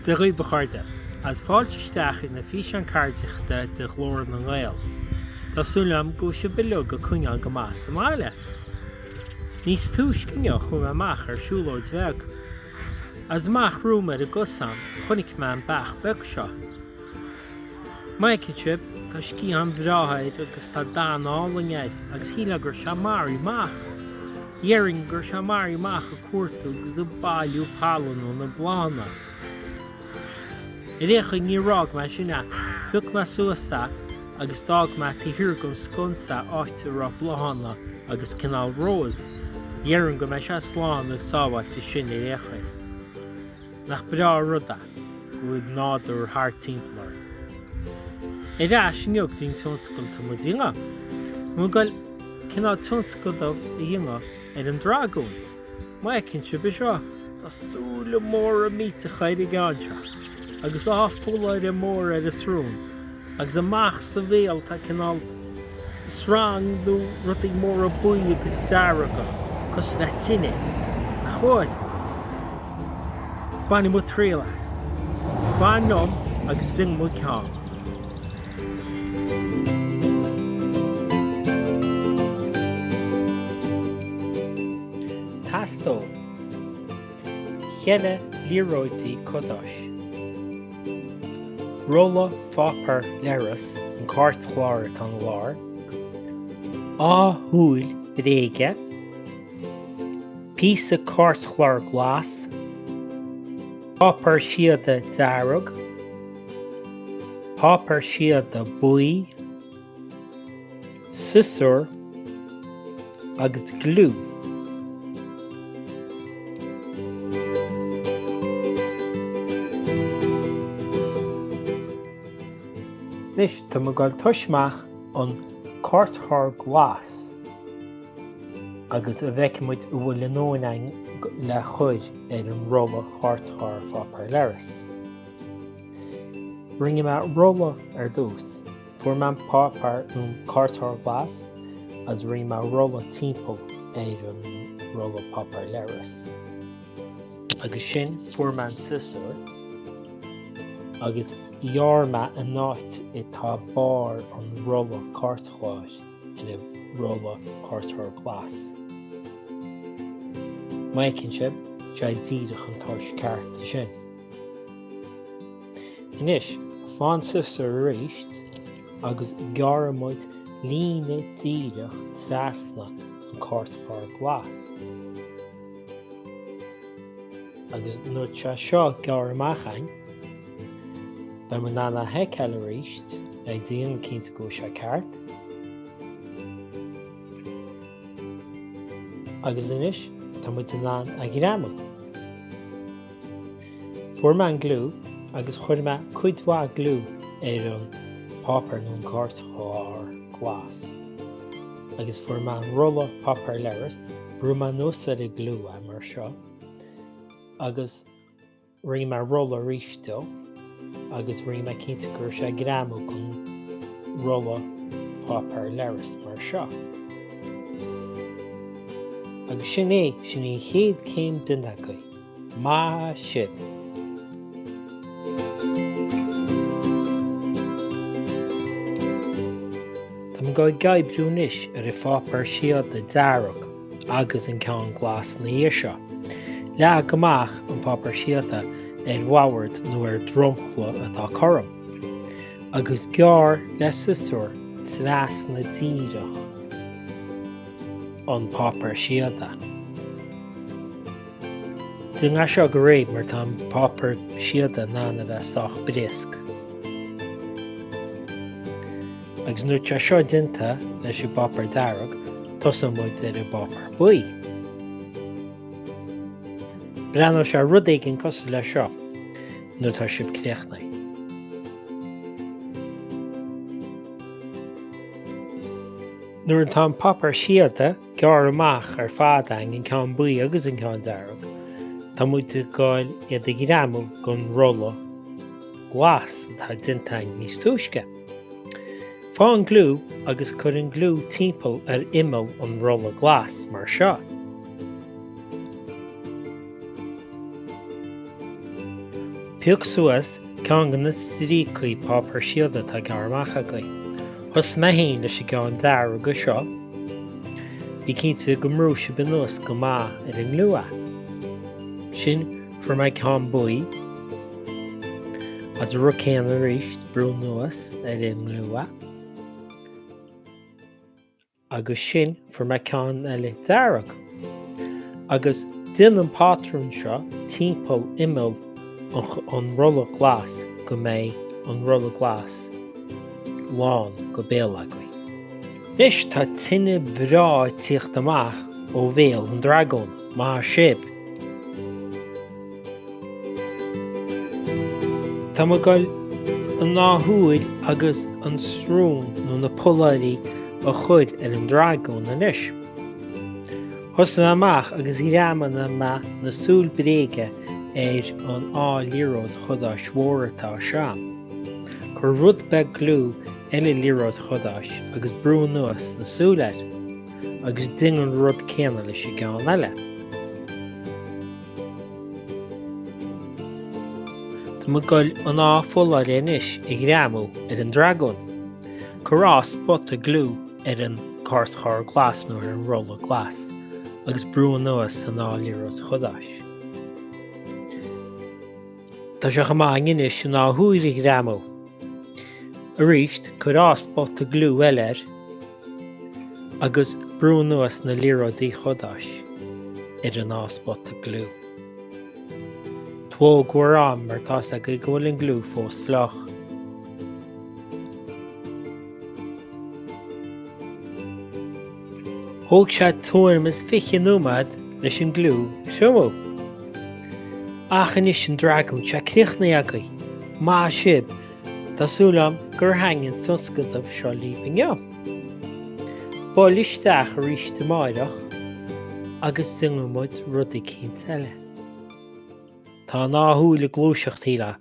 Dia dhaoibh a chairde, agus fáilte isteach ag an bhfíseán ceardaíochta le Glór na nGael. Tá súil agam go bhfuil sibh uilig ag coinneáil go maith sa mbaile. Níos túisce inniu chuaigh mé amach ar siúlóid bheag. Is amach romham ar an gcosán chonaic mé an beach beag seo. Má fheiceann sibh, tá sciatháin bhreátha air agus tá dath álainn air agus shíl mé go raibh sé marbh ach. déarfainn go raibh sé, mar, amach ag cuartú agus ag bailiú pailin ó na bláthanna. Ar aon chaoi, níor fhág mé ansin é. Phioc mé suas é agus d'fhág mé taobh thiar den sconsa é áit a raibh bláthanna agus cineál rós. Déarfainn go mbeidh sé slán agus sábháilte ansin ar aon chaoi. Nach breá an rud é go bhfuil an nádúr thart timpeall orainn. Ar ais inniu go dtí an tionscadal atá muid a dhéanamh. Muid ag goil cineál tionscadal a dhéanamh ar an dragún. Má fheiceann sibh é seo, tá súile móra millteacha ar an gceann seo, agus dhá pholláire móra ar a shrón, agus amach sa bhéal tá cineál srang nó rudaí móra buí agus dearga, cosúil le tine. Nach bhfuil? Bainfidh muid triail as. Fan liom agus déanfaidh muid ceann. Teastóidh cheithre liathróidí cadáis, rolla páipéar leithris an cairtchlár atá ina lár, dhá shúil bréige, píosa cairtchlár glas, páipéar síoda dearg, páipéar síoda buí, siosúr agus gliú. Anois tá mé ag dul tosú amach ar an gcairtchlár glas agus go bhfeicfidh muid an bhfuil ár ndóthain againn le cur ar an rolla cairtchlár páipéar leithris. Rinne mé rolla ar dtús. Fuair mé an páipéar ón gcairtchlár glas agus rinne mé rolla timpeall ar an rolla páipéar leithris. Agus ansin fuair mé an siosúr agus ghearr mé an áit atá barr an rolla cairtchláir ar an rolla cairtchláir glas. Má fheiceann sibh, seo díreach an toirt ceart dó sin. Anois, faigh an siosúr aríst agus gearrann muid líne díreach trasna an cairtchlár glas. Agus nuair atá seo gearrtha amach againn, beidh muid in ann é a fheiceáil aríst ag déanamh cinnte go bhfuil sé ceart. Agus anois, tá muid in ann é a ghreamú. Fuair mé an gliú agus chuir mé cuid mhaith gliú ar an páipéar nó an cairtchlár glas. Agus fuair mé an rolla páipéar leithris, bhrú mé anuas ar an gliú é mar seo, agus rinne mé rolla aríst dó agus rinne mé cinnte go raibh sé ag greamú gon rolla páipéar leithris mar seo. Agus sin é, sin é an chéad céim déanta agaibh. Maith sibh! Tá muid ag gabháil ag oibriú anois ar an bpáipéar síoda dearg agus an ceann glas ina dhiaidh seo. Leag amach an páipéar síoda ar an mbord nó ar dhromchla atá cothrom, agus gearr le siosúr trasna díreach an páipéar síoda. Déanaigí seo go réidh mar tá an páipéar síoda in ann a bheith sách briosc. Agus nuair tá seo déanta leis an bpáipéar dearg, tosaíonn muid ar an bpáipéar buí. Breathnóidh sé ar rud éigin cosúil leis seo nuair tá sibh críochnaithe. Nuair atá an páipéar síoda gearrtha amach ar fad againn an ceann buí agus an ceann dearg. Tá muid ag gabháil iad a ghreamú gon rolla glas atá déanta againn níos túisce. Faigh an gliú agus cuir an gliú timpeall ar imeall an rolla glas mar seo. Pioc suas ceann de na stríocaí páipéir síoda atá gearrtha amach agaibh. Thosaigh mé féin leis an gceann dearg seo. Bí cinnte go mbrúigh sibh anuas go maith ar an ngliú é. Ansin fuair mé ceann buí. Agus an rud céanna arís, brúigh anuas ar an ngliú a. agus ansin fuair mé ceann eile dearg agus déan an patrún seo timpeall imeall an rolla glas go mbeidh an rolla glas lán go béal agaibh. Anois tá tine bhreá ag tíocht amach ó bhéal an dragóin, maith sibh! Tá mé ag goil an dá shúil agus an srón nó na polláirí a chur ar an dragún anois. Thosaigh mé amach agus ghreamaigh mé na súile bréige ar an dá liathróid chadáis mhóra atá anseo. Cuir rud beag gliú ar an liathróid chadáis agus brúigh anuas na súile air, agus déan an rud céanna leis an gceann eile. Tá mé ag goil an dá pholláire anois a ghreamú ar an dragún. Cuir dhá spota gliú ar an gcairtchlár glas nó ar an rolla glas agus brúigh anuas an dá liathróid chadáis. Tá sé chomh maith againn anois an dá shúil a ghreamú. Arís, cuir dhá spota gliú eile air agus brúigh anuas na liathróidí cadáis ar an dá spota gliú. Tóg bhur n-am mar tá a fhios agaibh go bhfuil an gliú fós fliuch. Thóg sé tuairim is 20 nóiméad leis an gliú a thriomú. Ach anois an dragún, sé críochnaithe agaibh! Maith sibh! Tá súil agam gur thaitnigh an tionscnamh seo libh inniu. Buail isteach arís amáireach agus déanfaidh muid rud eicínt eile. Tá an dá shúil ag gluaiseacht, shílfeá.